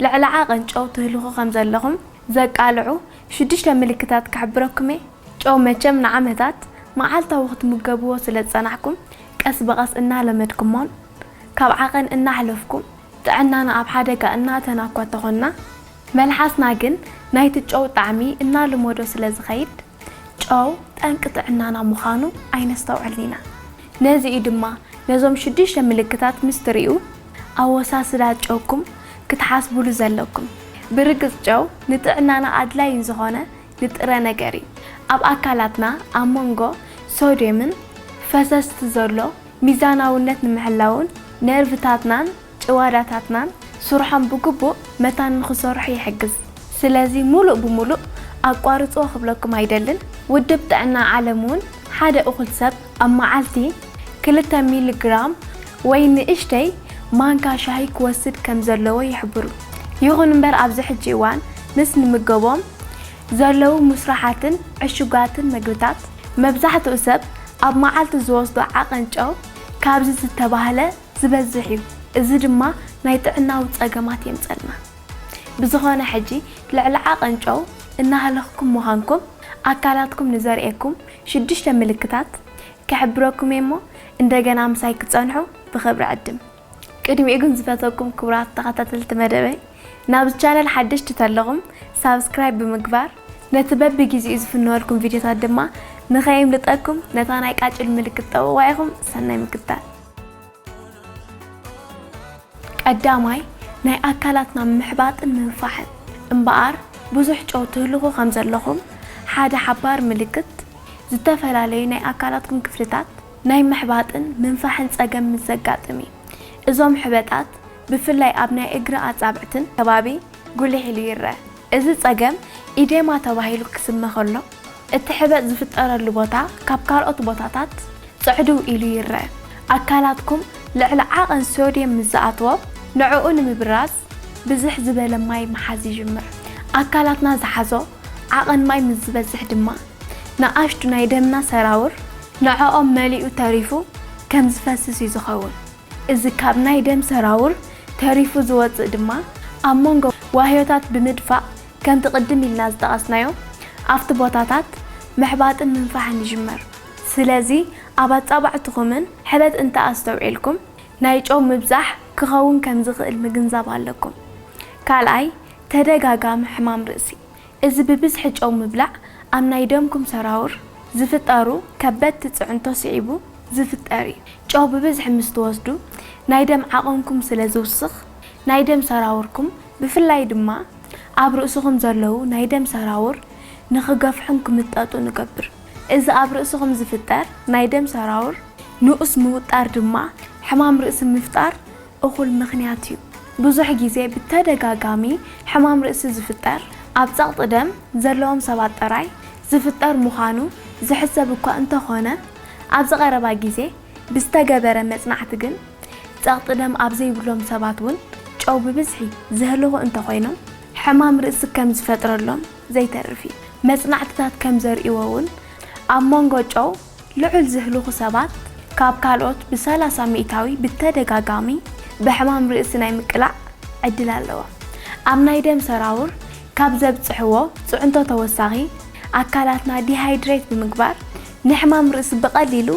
ልዕሊ ዓቐን ጨው ትህልኹ ከም ዘለኹም ዘቃልዑ ሽዱሽተ ምልክታት ክሕብረኩም'የ። ጨው መቸም ንዓመታት መዓልታዊ ክትምገብዎ ስለ ዝጸናሕኩም፣ ቀስ ብቐስ እናለመድኩሞን ካብ ዓቐን እናሕለፍኩም ጥዕናና ኣብ ሓደጋ እናእተና'ኳ ተኾንና፣ መልሓስና ግን ናይቲ ጨው ጣዕሚ እናልመዶ ስለ ዝኸይድ፣ ጨው ጠንቂ ጥዕናና ምዃኑ ኣይነስተውዕልን ኢና። ነዚ'ዩ ድማ ነዞም ሽዱሽተ ምልክታት ምስ ትርእዩ፣ ኣወሳስዳ ጨውኩም ክትሓስቡሉ ዘለኩም። ብርግጽ ጨው ንጥዕናና ኣድላዪ ዝኾነ ንጥረ ነገር እዩ። ኣብ ኣካላትና ኣብ መንጎ ሶድየምን ፈሰስቲ ዘሎ ሚዛናውነት ንምሕላውን ነርቭታትናን ጭዋዳታትናን ስርሖም ብግቡእ መታን ንኽሰርሑ ይሕግዝ። ስለዚ ምሉእ ብምሉእ ኣቋርጽዎ ክብለኩም ኣይደልን። ውድብ ጥዕና ዓለም'ውን ሓደ እኹል ሰብ፣ ኣብ መዓልቲ ክልተ ሚሊ ግራም ወይ ንእሽተይ ማንካ ሻሂ ክወስድ ከም ዘለዎ ይሕብሩ። ይኹን እምበር ኣብዚ ሕጂ እዋን ምስ ንምገቦም ዘለዉ ሙስርሓትን ዕሹጋትን መግብታት መብዛሕትኡ ሰብ ኣብ መዓልቲ ዝወስዶ ዓቐን ጨው ካብዚ ዝተባህለ ዝበዝሕ እዩ። እዚ ድማ ናይ ጥዕናዊ ጸገማት የምጸልና። ብዝኾነ ሕጂ ልዕሊ ዓቐን ጨው እናሃለኽኩም ምዃንኩም ኣካላትኩም ንዘርእየኩም ሽዱሽተ ምልክታት ክሕብረኩም'የ እሞ እንደገና ምሳይ ክትጸንሑ ብኽብሪ ዕድም። ቅድሚኡ ግን ዝፈተኩም ክቡራት ተኸታተልቲ መደበይ ናብዚ ቻነል ሓደሽቲ ተለኹም ሳብስክራይብ ብምግባር ነቲ በቢ ጊዚኡ ዝፍነወልኩም ቪድዮታት ድማ ንኸየምልጠኩም ነታ ናይ ቃጭል ምልክት ጠውቕዋ ኢኹም ሰናይ ምክትታል። ቀዳማይ ናይ ኣካላትና ምሕባጥን ምንፋሕን እምበኣር ብዙሕ ጨው ትህልኹ ከም ዘለኹም ሓደ ሓባሪ ምልክት ዝተፈላለዩ ናይ ኣካላትኩም ክፍልታት ናይ ምሕባጥን ምንፋሕን ጸገም ምስ ዘጋጥም እዩ። እዞም ሕበጣት ብፍላይ ኣብ ናይ እግሪ ኣጻብዕትን ከባቢ ጉልሕ ኢሉ ይረኣ። እዚ ጸገም ኢዴማ ተባሂሉ ክስመ ከሎ፣ እቲ ሕበጥ ዝፍጠረሉ ቦታ ካብ ካልኦት ቦታታት ጽዕድው ኢሉ ይረኣ። ኣካላትኩም ልዕሊ ዓቐን ሶድየም ምስ ዝኣትዎ፣ ንዕኡ ንምብራዝ ብዝሕ ዝበለ ማይ ምሓዝ ይጅምር። ኣካላትና ዝሓዞ ዓቐን ማይ ምስ ዝበዝሕ ድማ፣ ንኣሽቱ ናይ ደምና ሰራውር ንዕኦም መሊኡ ተሪፉ ከም ዝፈስስ እዩ ዝኸውን። እዚ ካብ ናይ ደም ሰራውር ተሪፉ ዝወጽእ ድማ ኣብ መንጎ ዋህዮታት ብምድፋእ ከምቲ ቅድም ኢልና ዝጠቐስናዮ ኣብቲ ቦታታት ምሕባጥን ምንፋሕን ይጅመር። ስለዚ ኣብ ኣጻብዕትኹምን ሕበጥ እንተ ኣስተውዒልኩም ናይ ጨው ምብዛሕ ክኸውን ከም ዝኽእል ምግንዛብ ኣለኩም። ካልኣይ ተደጋጋሚ ሕማም ርእሲ እዚ ብብዝሒ ጨው ምብላዕ ኣብ ናይ ደምኩም ሰራውር ዝፍጠሩ ከበድቲ ፅዕንቶ ስዒቡ ዝፍጠር እዩ። ጨው ብብዝሒ ምስ ትወስዱ ናይ ደም ዓቕንኩም ስለ ዝውስኽ ናይ ደም ሰራውርኩም ብፍላይ ድማ ኣብ ርእስኹም ዘለዉ ናይ ደም ሰራውር ንክገፍሑን ክምጠጡን እገብር። እዚ ኣብ ርእስኹም ዝፍጠር ናይ ደም ሰራውር ንኡስ ምውጣር ድማ ሕማም ርእሲ ምፍጣር እኹል ምኽንያት እዩ። ብዙሕ ግዜ ብተደጋጋሚ ሕማም ርእሲ ዝፍጠር ኣብ ጸቕጢ ደም ዘለዎም ሰባት ጥራይ ዝፍጠር ምዃኑ ዝሕሰብ እኳ እንተኾነ፣ ኣብዚ ቀረባ ግዜ ብዝተገበረ መጽናዕቲ ግን ጸቕጢ ደም ኣብ ዘይብሎም ሰባት እውን ጨው ብብዝሒ ዘህልኹ እንተኾይኖም፣ ሕማም ርእሲ ከም ዝፈጥረሎም ዘይተርፍ እዩ። መጽናዕትታት ከም ዘርእይዎ እውን ኣብ መንጎ ጨው ልዑል ዝህልኹ ሰባት ካብ ካልኦት ብሰላሳ ሚእታዊ ብተደጋጋሚ ብሕማም ርእሲ ናይ ምቅላዕ ዕድል ኣለዎም። ኣብ ናይ ደም ሰራውር ካብ ዘብጽሕዎ ጽዕንቶ ተወሳኺ፣ ኣካላትና ዲሃይድሬት ብምግባር ንሕማም ርእሲ ብቐሊሉ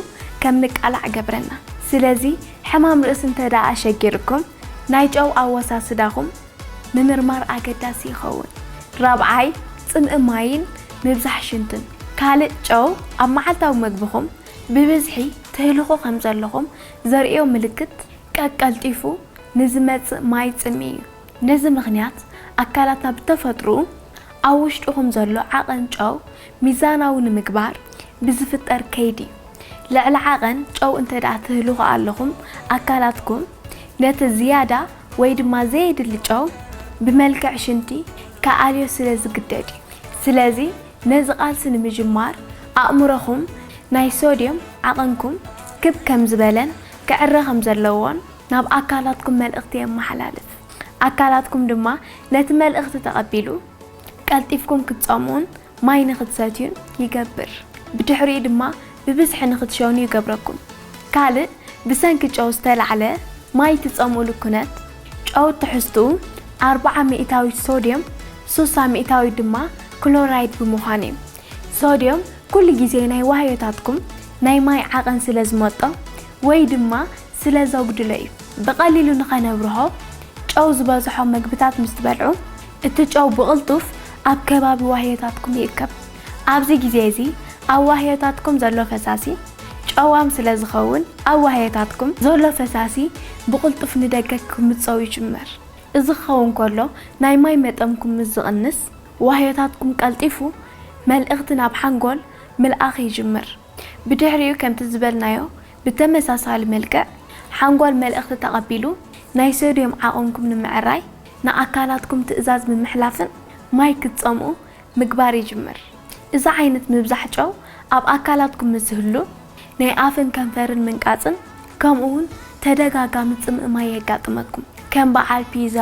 ከም ንቃላዕ እገብረና። ስለዚ ሕማም ርእሲ እንተድኣ ኣሸጊሩኩም ናይ ጨው ኣወሳስዳኹም ምምርማር ኣገዳሲ ይኸውን። ራብዓይ፣ ጽምኢ ማይን ምብዛሕ ሽንትን። ካልእ፣ ጨው ኣብ መዓልታዊ መግብኹም ብብዝሒ ትህልኹ ከም ዘለኹም ዘርእዮ ምልክት ቀቀልጢፉ ንዝመጽእ ማይ ጽምኢ እዩ። ነዚ ምኽንያት ኣካላትና ብተፈጥርኡ ኣብ ውሽጥኹም ዘሎ ዓቐን ጨው ሚዛናዊ ንምግባር ብዝፍጠር ከይዲ እዩ። ልዕሊ ዓቐን ጨው እንተድኣ ትህልኹ ኣለኹም ኣካላትኩም ነቲ ዝያዳ ወይ ድማ ዘየድሊ ጨው ብመልክዕ ሽንቲ ክኣልዮ ስለ ዝግደድ እዩ። ስለዚ ነዚ ቃልሲ ንምጅማር ኣእምሮኹም ናይ ሶድዮም ዓቐንኩም ክብ ከም ዝበለን ክዕረ ከም ዘለዎን ናብ ኣካላትኩም መልእኽቲ የመሓላልፍ። ኣካላትኩም ድማ ነቲ መልእኽቲ ተቐቢሉ ቀልጢፍኩም ክትጸምኡን ማይ ንኽትሰትዩን ይገብር። ብድሕሪኡ ድማ ብብዝሒ ንኽትሸኑ ይገብረኩም። ካልእ ብሰንኪ ጨው ዝተላዕለ ማይ እትጸምኡሉ ኩነት፣ ጨው ትሕዝትኡ ኣርብዓ ሚእታዊት ሶድየም ሱሳ ሚእታዊት ድማ ክሎራይድ ብምዃኑ እዩ። ሶድየም ኩሉ ግዜ ናይ ዋህዮታትኩም ናይ ማይ ዓቐን ስለ ዝመጦ ወይ ድማ ስለ ዘጉድሎ እዩ። ብቐሊሉ ንኸነብርሆ ጨው ዝበዝሖ መግብታት ምስ ትበልዑ፣ እቲ ጨው ብቕልጡፍ ኣብ ከባቢ ዋህዮታትኩም ይእከብ። ኣብዚ ግዜ እዚ ኣብ ዋህዮታትኩም ዘሎ ፈሳሲ ጨዋም ስለ ዝኸውን፣ ኣብ ዋህዮታትኩም ዘሎ ፈሳሲ ብቕልጡፍ ንደገ ክምጸው ይጅምር። እዚ ክኸውን ከሎ ናይ ማይ መጠንኩም ምስ ዝቕንስ፣ ዋህዮታትኩም ቀልጢፉ መልእኽቲ ናብ ሓንጎል ምልኣኽ ይጅምር። ብድሕሪኡ ከምቲ ዝበልናዮ ብተመሳሳሊ መልክዕ ሓንጎል መልእኽቲ ተቐቢሉ ናይ ሶድዮም ዓቕንኩም ንምዕራይ ንኣካላትኩም ትእዛዝ ብምሕላፍን ማይ ክትጸምኡ ምግባር ይጅምር። እዚ ዓይነት ምብዛሕ ጨው ኣብ ኣካላትኩም ምስ ዝህሉ ናይ ኣፍን ከንፈርን ምንቃጽን ከምኡ'ውን ተደጋጋሚ ጽምኢ ማይ የጋጥመኩም። ከም በዓል ፒዛ፣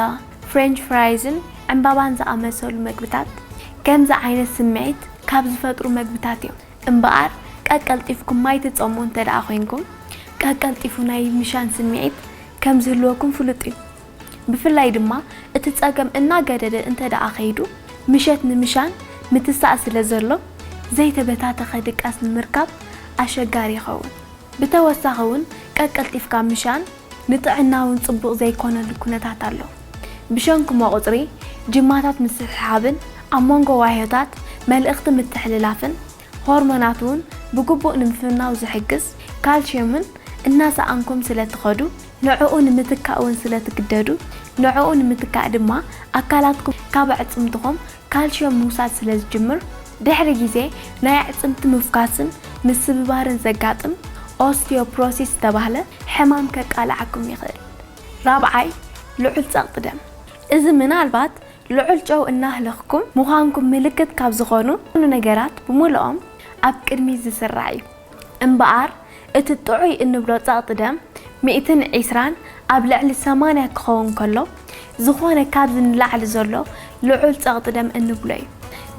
ፍሬንች ፍራይዝን ዕምባባን ዝኣመሰሉ መግብታት ከምዚ ዓይነት ስምዒት ካብ ዝፈጥሩ መግብታት እዮም። እምበኣር ቀቀልጢፍኩም ማይ ትጸምኡ እንተ ደኣ ዄንኩም፣ ቀቀልጢፉ ናይ ምሻን ስምዒት ከም ዚህልወኩም ፍሉጥ እዩ። ብፍላይ ድማ እቲ ጸገም እናገደደ እንተ ደኣ ኸይዱ፣ ምሸት ንምሻን ምትሳእ ስለ ዘሎ፣ ዘይተበታተኸ ድቃስ ንምርካብ ኣሸጋሪ ይኸውን። ብተወሳኺውን ቀቀልጢፍካ ምሻን፣ ንጥዕና እውን ጽቡቕ ዘይኮነሉ ኩነታት ኣሎ። ብሸንኩ መቑጽሪ ጂማታት ምስሕሓብን ኣብ መንጎ ዋህዮታት መልእኽቲ ምትሕልላፍን ሆርሞናት እውን ብግቡእ ንምፍናው ዝሕግዝ ካልሽየምን እናሰኣንኩም ስለትኸዱ፣ ንዕኡ ንምትካእ እውን ስለትግደዱ፣ ንዕኡ ንምትካእ ድማ ኣካላትኩም ካብ ኣዕጽምትኹም ካልሽየም ምውሳድ ስለ ዝጅምር ድሕሪ ግዜ ናይ ኣዕጽምቲ ምፍኳስን ምስብባርን ዘጋጥም ኦስቲዮፕሮሲስ ዝተባህለ ሕማም ከቃልዓኩም ይኽእል። ራብዓይ፣ ልዑል ጸቕጢ ደም። እዚ ምናልባት ልዑል ጨው እናህለኽኩም ምዃንኩም ምልክት ካብ ዝኾኑ ነገራት ብምሉኦም ኣብ ቅድሚት ዝስራዕ እዩ። እምበኣር እቲ ጥዑይ እንብሎ ጸቕጢ ደም ሚእትን ዒስራን ኣብ ልዕሊ ሰማንያ ክኸውን ከሎ ዝኾነ ካብዚ ንላዕሊ ዘሎ ልዑል ጸቕጢ ደም እንብሎ እዩ።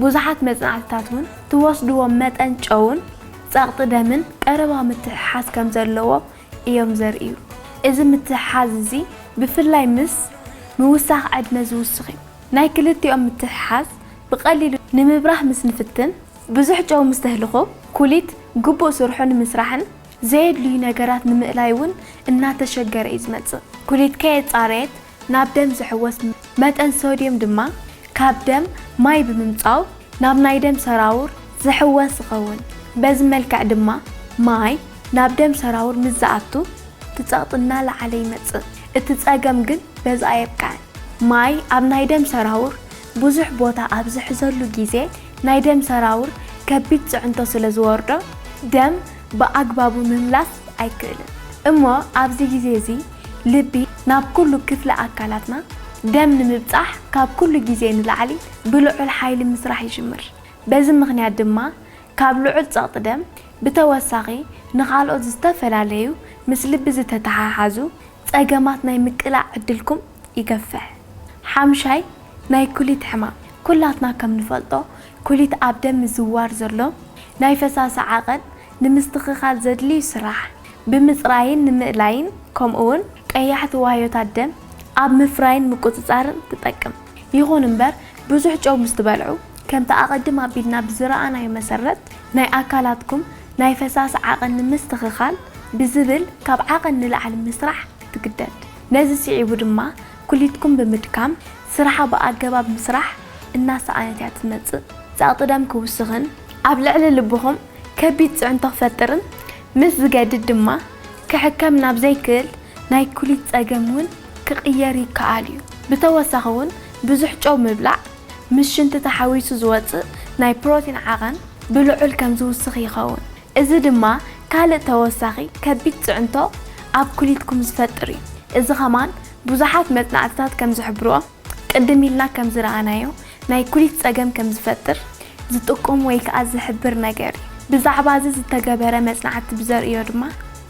ብዙሓት መጽናዕትታት እውን ትወስድዎ መጠን ጨውን ጸቕጢ ደምን ቀረባ ምትሕሓዝ ከም ዘለዎ እዮም ዘርእዩ። እዚ ምትሕሓዝ እዚ ብፍላይ ምስ ምውሳኽ ዕድመ ዝውስኽ እዩ። ናይ ክልቲኦም ምትሕሓዝ ብቐሊሉ ንምብራህ ምስ ንፍትን፣ ብዙሕ ጨው ምስተህልኾ ኩሊት ግቡእ ስርሑ ንምስራሕን ዘየድልዩ ነገራት ንምእላይ እውን እናተሸገረ እዩ ዝመፅእ። ኩሊት ከየፃረየት ናብ ደም ዝሕወስ መጠን ሶድየም ድማ ካብ ደም ማይ ብምምፃው ናብ ናይ ደም ሰራውር ዝሕወስ ይኸውን። በዚ መልክዕ ድማ ማይ ናብ ደም ሰራውር ምስ ዝኣቱ እቲ ፀቕጢ እናለዓለ ይመፅእ። እቲ ፀገም ግን በዚ ኣየብቅዐን። ማይ ኣብ ናይ ደም ሰራውር ብዙሕ ቦታ ኣብ ዝሕዘሉ ግዜ ናይ ደም ሰራውር ከቢድ ፅዕንቶ ስለ ዝወርዶ ደም ብኣግባቡ ምምላስ ኣይክእልን እሞ ኣብዚ ግዜ እዚ ልቢ ናብ ኩሉ ክፍሊ ኣካላትና ደም ንምብፃሕ ካብ ኩሉ ግዜ ንላዕሊ ብልዑል ሓይሊ ምስራሕ ይጅምር በዚ ምኽንያት ድማ ካብ ልዑል ፀቕጢ ደም ብተወሳኺ ንኻልኦት ዝተፈላለዩ ምስ ልቢ ዝተተሓሓዙ ጸገማት ናይ ምቅላዕ ዕድልኩም ይገፍሕ። ሓምሻይ፣ ናይ ኩሊት ሕማም፣ ኩላትና ከም ንፈልጦ ኩሊት ኣብ ደም ምዝውዋር ዘሎ ናይ ፈሳሲ ዓቐን ንምስትኽኻል ዘድልዩ ስራሕ ብምጽራይን ንምእላይን ከምኡውን ቀያሕቲ ዋህዮታት ደም ኣብ ምፍራይን ምቁጽጻርን ትጠቅም። ይኹን እምበር ብዙሕ ጨው ምስ ትበልዑ ከምቲ ኣቐድም ኣቢልና ብዝረኣናዮ መሰረት ናይ ኣካላትኩም ናይ ፈሳሲ ዓቐን ንምስትኽኻል ብዝብል ካብ ዓቐን ንላዕሊ ምስራሕ ትግደድ። ነዚ ስዒቡ ድማ ኩሊትኩም ብምድካም ስራሓ ብኣገባብ ምስራሕ እናሰኣነት እያ ትመፅእ። ፀቕጢ ደም ክውስኽን ኣብ ልዕሊ ልብኹም ከቢድ ፅዕንቶ ክፈጥርን ምስ ዝገድድ ድማ ክሕከም ናብ ዘይክእል ናይ ኩሊት ፀገም እውን ክቕየር ይከኣል እዩ። ብተወሳኺ እውን ብዙሕ ጨው ምብላዕ ምስ ሽንቲ ተሓዊሱ ዝወጽእ ናይ ፕሮቲን ዓቐን ብልዑል ከም ዝውስኽ ይኸውን፣ እዚ ድማ ካልእ ተወሳኺ ከቢድ ጽዕንቶ ኣብ ኩሊትኩም ዝፈጥር እዩ። እዚ ከማን ብዙሓት መጽናዕትታት ከም ዝሕብርዎ፣ ቅድም ኢልና ከም ዝረኣናዮ ናይ ኩሊት ጸገም ከም ዝፈጥር ዝጥቁም ወይ ከኣ ዝሕብር ነገር እዩ። ብዛዕባ እዚ ዝተገበረ መጽናዕቲ ብዘርእዮ ድማ፣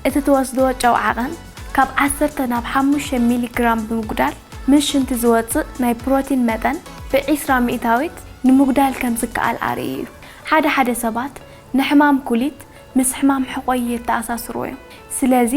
እቲ ትወስድዎ ጨው ዓቐን፣ ካብ ዓሰርተ ናብ ሓሙሽተ ሚሊ ግራም ብምጉዳል ምስ ሽንቲ ዝወጽእ ናይ ፕሮቲን መጠን ብዒስራ ሚእታዊት ንምጉዳል ከም ዝከኣል ኣርእዩ እዩ። ሓደ ሓደ ሰባት ንሕማም ኩሊት ምስ ሕማም ሕቖ የተኣሳስርዎ እዮም። ስለዚ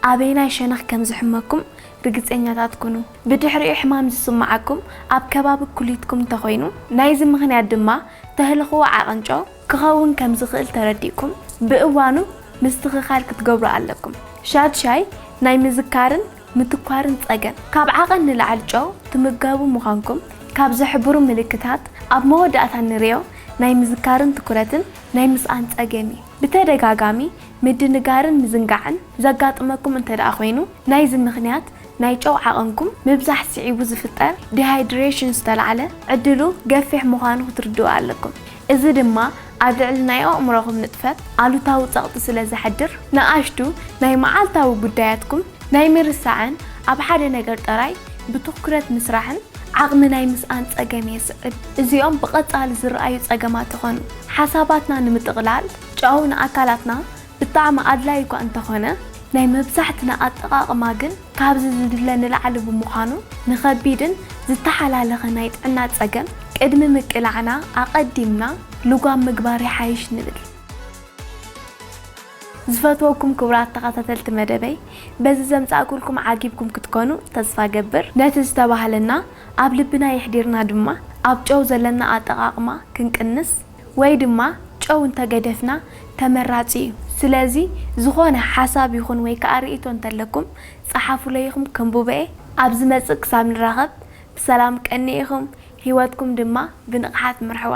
ኣበየናይ ሸነኽ ከም ዝሕመኩም ርግጸኛታት ኩኑ። ብድሕሪኡ ሕማም ዝስምዓኩም ኣብ ከባቢ ኩሊትኩም እንተኾይኑ፣ ናይዚ ምኽንያት ድማ ተህልኽዎ ዓቕን ጨው፣ ክኸውን ከም ዝኽእል ተረዲእኩም ብእዋኑ ምስትኽኻል ክትገብሩ ኣለኩም። ሻድሻይ ናይ ምዝካርን ምትኳርን ጸገም። ካብ ዓቐን ንላዕሊ ጨው ትምገቡ ምዃንኩም ካብ ዝሕብሩ ምልክታት ኣብ መወዳእታ እንርእዮ ናይ ምዝካርን ትኩረትን ናይ ምስኣን ጸገም እዩ። ብተደጋጋሚ ምድንጋርን ምዝንጋዕን ዘጋጥመኩም እንተድኣ ኮይኑ ናይዚ ምኽንያት ናይ ጨው ዓቐንኩም ምብዛሕ ስዒቡ ዝፍጠር ዲሃይድሬሽን ዝተላዕለ ዕድሉ ገፊሕ ምዃኑ ክትርድኡ ኣለኩም። እዚ ድማ ኣብ ልዕሊ ናይ ኣእምሮኹም ንጥፈት ኣሉታዊ ጸቕጢ ስለ ዘሕድር፣ ንኣሽቱ ናይ መዓልታዊ ጉዳያትኩም ናይ ምርሳዕን ኣብ ሓደ ነገር ጥራይ ብትኩረት ምስራሕን ዓቕሚ ናይ ምስኣን ጸገም የስዕብ። እዚኦም ብቐጻሊ ዝረኣዩ ጸገማት ይኾኑ። ሓሳባትና ንምጥቕላል፣ ጨው ንኣካላትና ብጣዕሚ ኣድላዪ'ኳ እንተኾነ፣ ናይ መብዛሕትና ኣጠቓቕማ ግን፣ ካብዚ ዝድለ ንላዕሊ ብምዃኑ ንኸቢድን ዝተሓላለኸ ናይ ጥዕና ፀገም ቅድሚ ምቅላዕና ኣቐዲምና ልጓም ምግባር ይሓይሽ ንብል። ዝፈትወኩም ክቡራት ተኸታተልቲ መደበይ በዚ ዘምፃእኩልኩም ዓጊብኩም ክትኮኑ ተስፋ እገብር። ነቲ ዝተባህለና ኣብ ልብና የሕዲርና ድማ ኣብ ጨው ዘለና ኣጠቓቕማ ክንቅንስ፣ ወይ ድማ ጨው እንተገደፍና ተመራጺ እዩ። ስለዚ ዝኾነ ሓሳብ ይኹን ወይ ከኣ ርእይቶ እንተለኩም ጸሓፉለይ ኢኹም ከንብቦ እየ። ኣብ ዝመጽእ ክሳብ ንራኸብ ብሰላም ቀንዩ ኢኹም፣ ህይወትኩም ድማ ብንቕሓት ምርሕዋ።